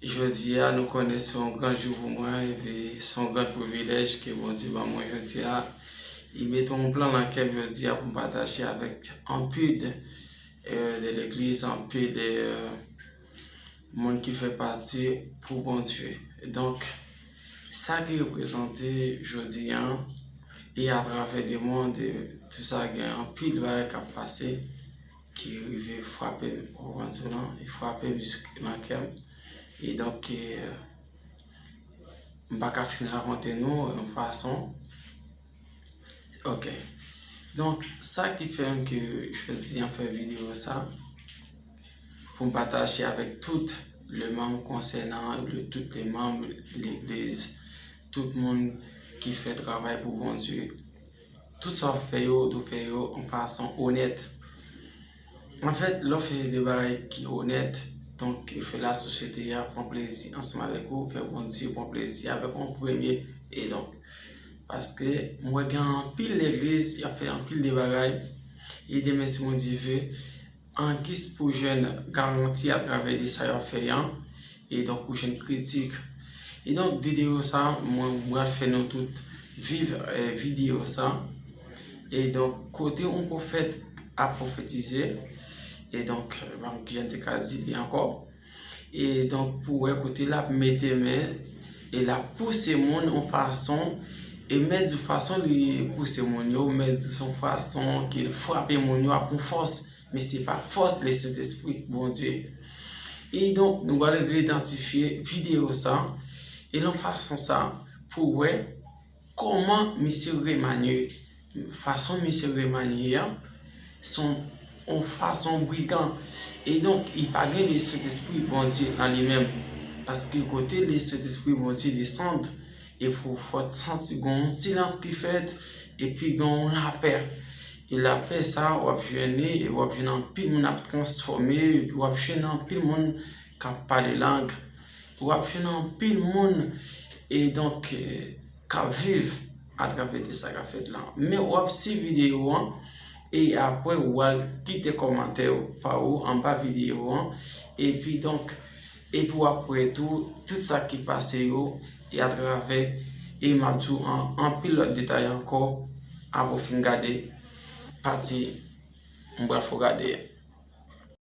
Jodi a nou konnen se yon gran jou pou mwen e pi se yon gran privilèj ke Bondye ban mwen jodi a. Li mete yon plan nan kè m jodi a pou m pataje avèk anpil de legliz, anpil de moun ki fè pati pou Bondye. Donk, sa ki reprezante jodi a, e atravè lemond, tout sa gen anpil bagay k ap pase. ki rive frape m o vanzou lan, li frape m jisk nan kè m, e donk e m pa ka fin rakonte nou yon fason, ok, donk sa ki fè m ke jodi an fè video sa, pou m pataje avèk tout le manm konsènan, tout le manm legliz, tout moun ki fè travay pou Bondye. Tout sa wap fè yo, ou dwe fè yo yon fason onèt. Anfèt, lè w fè de bagay ki onèt, donk ou fè la sosyete a pran plezi ansanm avèk ou, ou fè Bondye pran plezi avèk ou an premye. E donk, paske m wè gen anpil legliz, y ap fè anpil de bagay, e demen si Bondye ve, An gis pou jèn garanti a travè de sa yap fè an, e donk ou jèn kritik. E donk videyo sa mwen bral fè nou tout viv videyo sa, e donk kote yon pwofèt ap pwofetize, e donk banm kijan te ka di li ankò. E donk pou wè kote l ap mete men, e l ap pouse moun yon fason, e mèt di fason li pouse moun yo, mèt di son fason ke l frape moun yo ak yon fòs, men se pa fòs le Sentespri Bondye. E donk nou pral re-idantifye videyo sa, e nan fason sa pou wè. Koman misye remanye, fason misye remanye an, son yon fason brigan. E donk, li pa gen le Sentespri Bondye an li menm. Paske kote le Sentespri Bondye desann, e pou fòt santi gen yon silans ki fèt, epi gen yon lapè. E lapè sa a, w ap jwenn li, e w ap jwenn anpil moun ap transfòme, epi w ap jwenn anpil moun k ap pale lang. Wap jwenn anpil moun e donk kap viv atravè de sa kap fèt la. Men wap si videyo an e apre wal kite kòmantè ou pa ou anba videyo an epi donk epi wap wè tou tout sa ki pase yo e atravè e map di ou anpil lòt detay ankò apre ou fin gade pati m pral fè w gade a.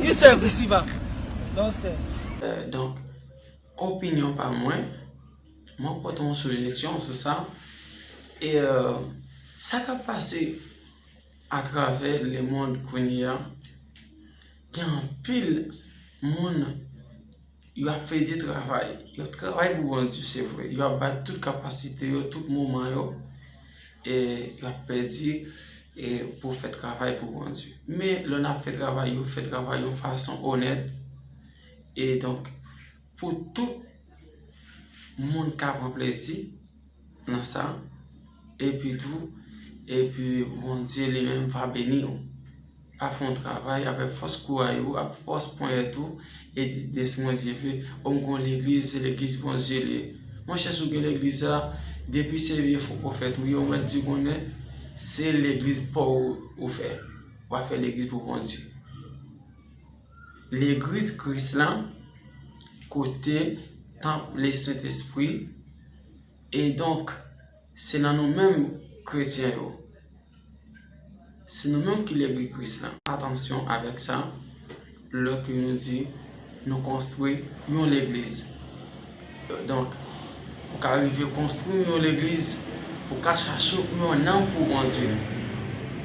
Li sè visi va. Non sè. Donk, opinyon pa mwen, mwen pote yon sijesyon sou sa, e sa k ap pase atravè lemonn kounye a, gen anpil moun Yo ap fè de travay. Yo ap travay pou bandi se vre. Yo ap bay tout kapasite yo, tout moman yo. E yo ap pèdi e pou fè travay pou bandi. Men lè nan fè travay yo, fè travay yo fason onèt. E donk pou tout moun ka pran plezi nan sa. E pi tou, e pi bandi li menm va beni yo. a fon travay avèk fòs kouray ou ak fòs ponyèt ou e di de si mwen Dye ve o m konn legliz se legliz Bondye l ye monchè si w gen legliz sa depi se vye fo pwofèt ou ye ou mèt di konnen se legliz pa w ou fè w a fè legliz pou Bondye legriz Kris la kote tanp le sentespri e donk se nan nou menm kretyen yo. Se nou menm ki lègri Kris la. Atansyon avèk sa, lè ke nou di nou konstwi yon legliz. Donk, ou ka rive konstwi yon legliz, ou ka chache yon nanm pou Bondye,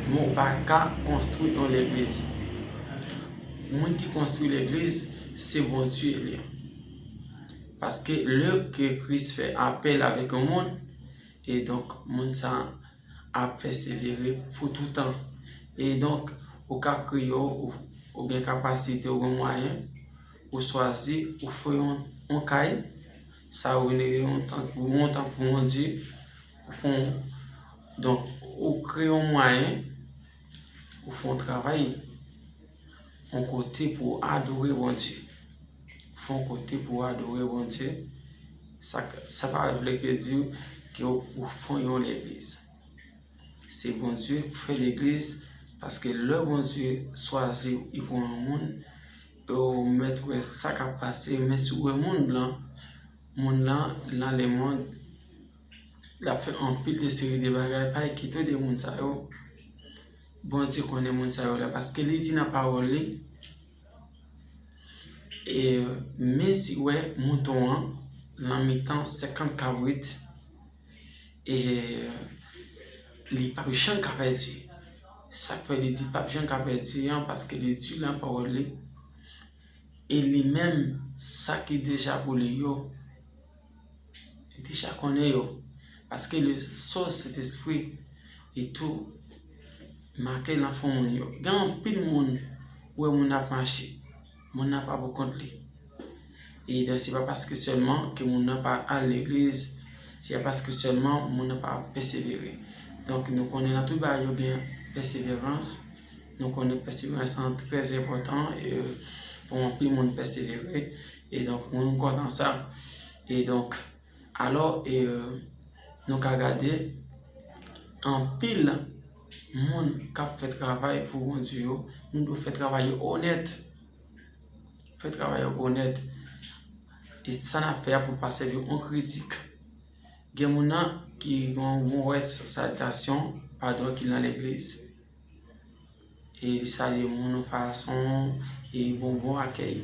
men ou pa ka konstwi yon legliz. Moun ki konstwi legliz, se Bondye li. Paske lè ke Kris fè apèl avèk yon moun, E donk, moun sa ap pèsevere pou toutan. E donk, ou ka kreye yo, ou gen kapasite, ou gen mwayen, ou swazi, ou fè yon kay, sa ou rele yon tank, ou yon tank pou yon dye, ou fè yon, donk, ou kreye yon mwayen, ou fè yon travay, yon kote pou adore Bondye. Fè yon kote pou adore Bondye, Sa pa vle ke di ke ou fon yon legliz. Se Bondye ki fè legliz paske lè Bondye swazi ou e fon yon moun e ou mèt wè sa kap pase men si ou wè moun blan moun lan nan lemond lap fè anpil de seri de bagay pa ekite ou de moun sa yo Bondye konnen moun sa yo la paske li di nan pawòl li E mezi wè mouton an nan mitan senkant kabrit, e li pa p janm ka pèdi. Sa k fè li di l pa p janm ka pèdi an, paske li di nan pawòl li, e li menm sa ki deja pou li yo. Li deja konnen yo. Paske le so Sentespri li tou make nan fon moun yo. Gen anpil moun ou wè moun nan ap mache. Moun nan pa poukont li. E dè se pa paske sèlman ke moun nan pa al legliz. Se pa paske sèlman moun nan pa pèsevere. Donk nou konnen nan tout bagay yo gen pèseverans. Nou konnen pèseverans lan trè enpotan. E pou anpil moun pèsevere. E donk moun ou kwè nan sa. E donk alò e nou ka gade anpil moun k ap fè travay pou Bondye yo, moun yo fè travay yo onèt, fè travay yo onèt. E sa n ap fè a pou l pa sèvi yo an kritik. Gen moun nan ki gen yon mowèz salitasyon, padon, ki nan legliz. E li salye moun yon fason e li bon bon akèy.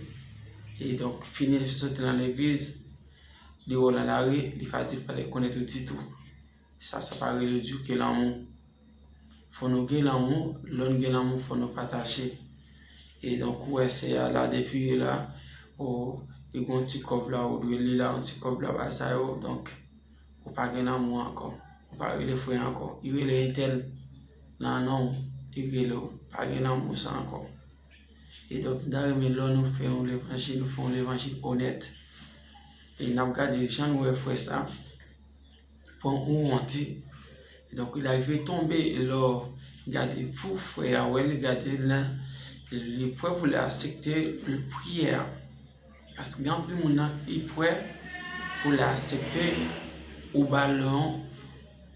E donk fini li soti nan legliz, li wè w nan lari, li pa di l pa te konnen ou ditou. Sa sa pa rele ditou ke lanmou. Fò nou gen lanmou, lè nou gen lanmou fò nou pataje. E donk ou wè sè a la depi li la, ou li gon ti kòb la ou dwe li la yon ti kòb la bagay sa yo donk ou pa gen lanmou ankò. Ou pa rele frè ankò. Li rele entèl. Nan non Ugello pa gen lanmou sa ankò. E donk m ta renmen lò nou fè yon levanjil nou fè yon levanjil onèt. E n ap gade jan nou wè frè sa pran yon wonte. E donk il arive tonbe e lò gade pou frè a wè li gade l nan li prè pou l asepte priye a. Paske gen anpil moun nan li prè pou l asepte ou ba l yon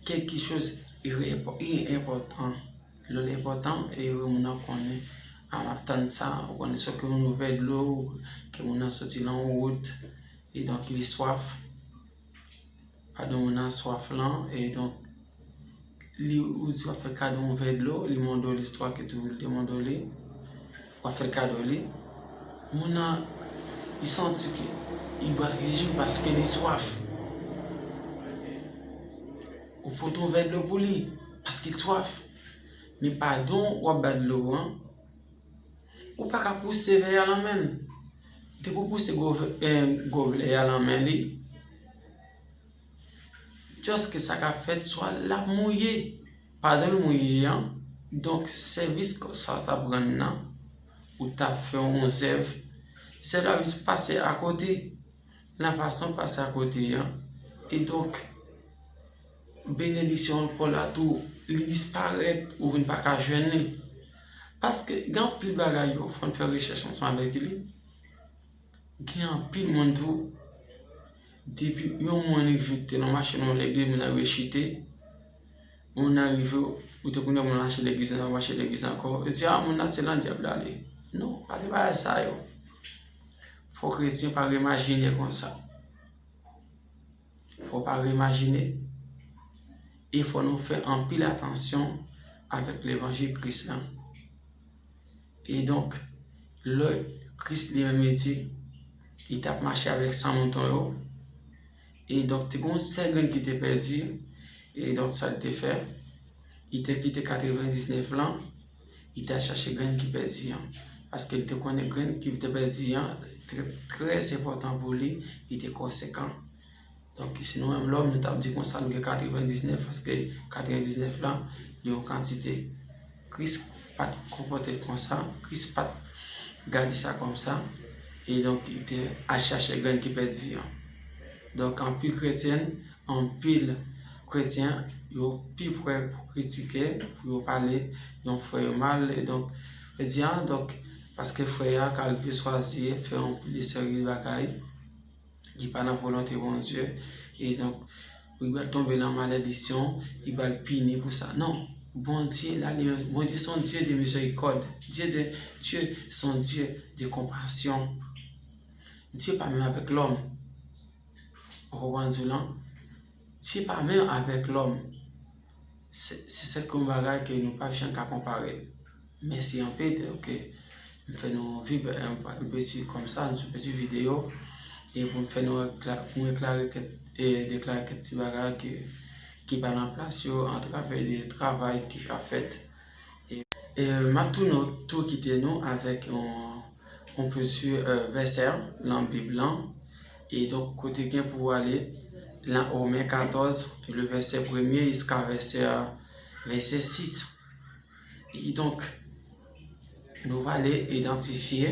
kèlke choz li enpòtan. Lè li enpòtan e moun nan konnen a map tann sa, ou konnen se yon nouvèl dlo ke moun nan soti nan wout e donk li swaf. Kadò moun nan swaf lan, e donk li ou di wap fè kadò yon vè dlo, li mande w listwa ke tou li te mande w li, wap fè kadò li, moun nan li santi ke li pral rejwi paske li swaf. Ou pote yon vè dlo pou li paske li swaf, men padon wap ba dlo an. Ou pa ka pouse vè a lan men l. Depi ou pouse goblè a lan men li, just ke sa ka fèt swa l ap mouye. Pandan l mouye an, donk sèvis kò sa a t ap rann nan, ou t ap fè yon zèv, zèv la jis pase akote. Nan fason l pase akote an, e donk. Benediksyon ankò la tou li disparèt ou vin pa ka jwenn li. Paske gen anpil bagay yo fòn fè rechèch ansanm avèk li. Gen anpil moun tou depi yon moun rive te nan machin ou lè 2 moun nan rive chite, moun nan rive ou te konnen moun nan achte legliz nan achte legliz ankò, yo di a moun nan se nan dyab li ale. Non, pa gen bagay sa yo. Fò kretyen pa remajine konsa. Fò pa reimajine, e fò nou fè anpil atansyon avèk levanjil Kris lan. E donk, lè Kris li menm li di, li tap mache avèk san mouton yo, e donk te gon sèl grenn ki te pèdi, e donk sa l te fè? Li te kite 99 lan, li te al chache grenn ki pèdi an. Paske li te konnen grenn ki te pèdi an, te trè sepotan pou li, li te konsekan. Donk, si nou menm lòm, nou tap di konsa nou gen 99, paske 99 lan, li yon kantite. Kris pat konpote l konsa, Kris pat gade sa kòm sa, e donk li te al chache grenn ki pèdi an. Donk, anpil kretyen, Anpil kretyen yo pi pre pou kritike, pou yo pale yon frè yo mal, e donk, yo di, a, donk, paske frè a ka rive swazi fè yon seri de bagay ki pa nan volonte Bondye, e donk, li pral tonbe nan maledisyon, li pral pini pou sa. Non, Bondye, Bondye se yon Dye de mizèrikòd, Dye se yon Dye de konpasyon. Dye pa menm avèk lòm. Ou konprann di w lan? Dye pa menm avèk lòm. Se sèke yon bagay ke nou pa janm ka konpare l. Mèsi anpil de w ke m fè nou viv yon pati kòm sa, yon pati videyo, e pou m fè nou pou m eklare kèk e deklare kèk ti bagay ki pa nan plas yo, antravè de travay ki ka fèt. Map tounen tou kite nou avèk yon piti vèsè nan bib lan e donk kote gen pou ale nan Romen 14 le vèsè premye jiska vèsè 6 e kidonk Nou prale idantifye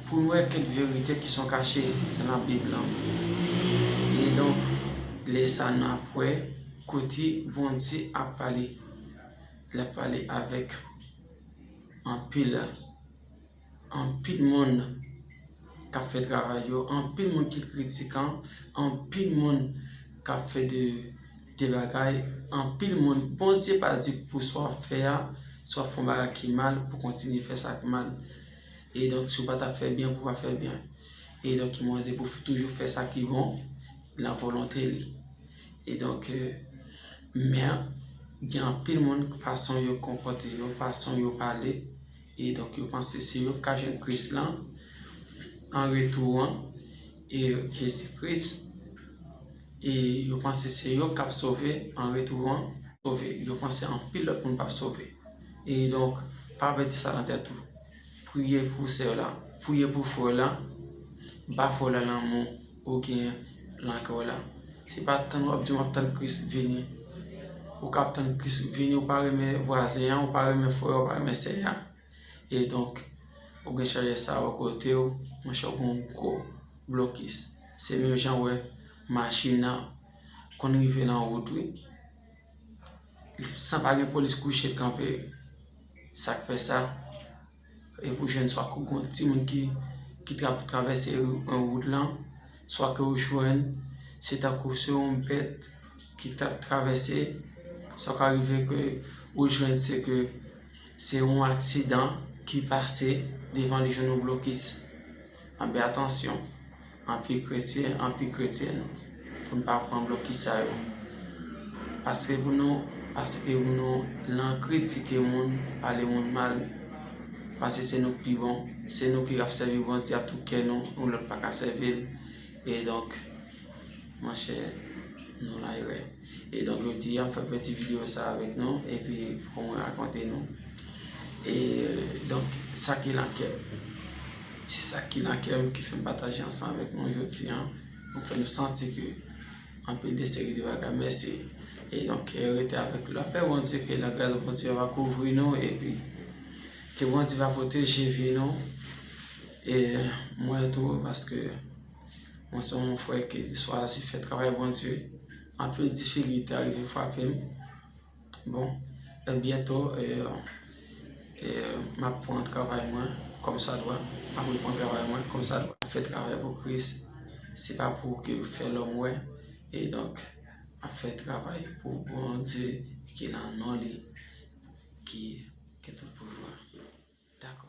pou n wè kèk verite ki son kache nan Bib la. E donk, lè sa n ap wè kote Bondye ap pale. L ap pale avèk anpil, anpil moun k ap fè travay yo, anpil moun ki kritikan, anpil moun k ap fè de. De bagay anpil moun Bondye pa di pou sa w ap fè a si w ap fè yon bagay ki mal pou w kontinye fè sa k mal e donk si w pa ta fè byen pou w pa fè byen e donk li mande pou w toujou fè sa ki bon nan volonte li e donk men gen anpil moun fason yo konpòte yo fason yo pale e donk yo panse se yo k ka jwenn kris lan an retou an e jezi kris E yo panse se yo kap sove an retou an sove yo panse anpil lòt moun pap sove e donk pa vle di sa nan tèt ou priye pou sè w la priye pou frè w la ba frè w la lanmou ou gen nan kè w la se pa tann wap di wap tann kris vini ou kap tann kris vini ou pa renmen vwazen an ou pa renmen frè a ou pa renmen sè a e donk ou gen chèlè sa bò kote w monchè ou gon gwo blokis se menm jan wè machin nan konn rive nan wout wi san pa gen polis kouche kanpe sak fè sa e pou jwenn swa kou gon timoun ki tap travèse wout lan swa ke ou jwenn se tankou se yon bèt ki tap travèse sa ka rive ke ou jwenn se ke se yon aksidan ki pase devan li jwenn yon blokis Anpi atansyon, anpi kretyen, anpi kretyèn, pou n pa pran blokis sa yo. Pase pou nou, pase pou nou lan kritike moun, pale moun mal, panse se nou k pi bon, se nou ki ap sèvi Bondye ak tout kè nou, yon lòt pa ka sèvi l. E donk, monchè, nou lan erè. E donk jodi a m fè peti video sa avèk nou epi pou mwen rakonte nou e donk sa ki lan kè m. Se sa ki lan kè m ki fè m pataje ansanm avèk nou jodi a pou fè nou santi ke anpil de seri de bagay mèsi e donk rete avèk nou. Lapè Bondye ke lagras Bondye va kouvri nou epi ke Bondye va pwoteje vi nou e mwen tou paske. Mwen se yon frè ke li chwazi fè travay Bondye. Anpil difikilte arive frape m. Bon, e byento, m ap pran travay mwen kòmsadwa. M ap repran travay mwen kòmsadwa. M ap fè travay pou Kris. Se pa pou ke fè lòm wè. E donk, m ap fè travay pou Bondye ki nan non li. Ki gen tout pouvwa. Dakò.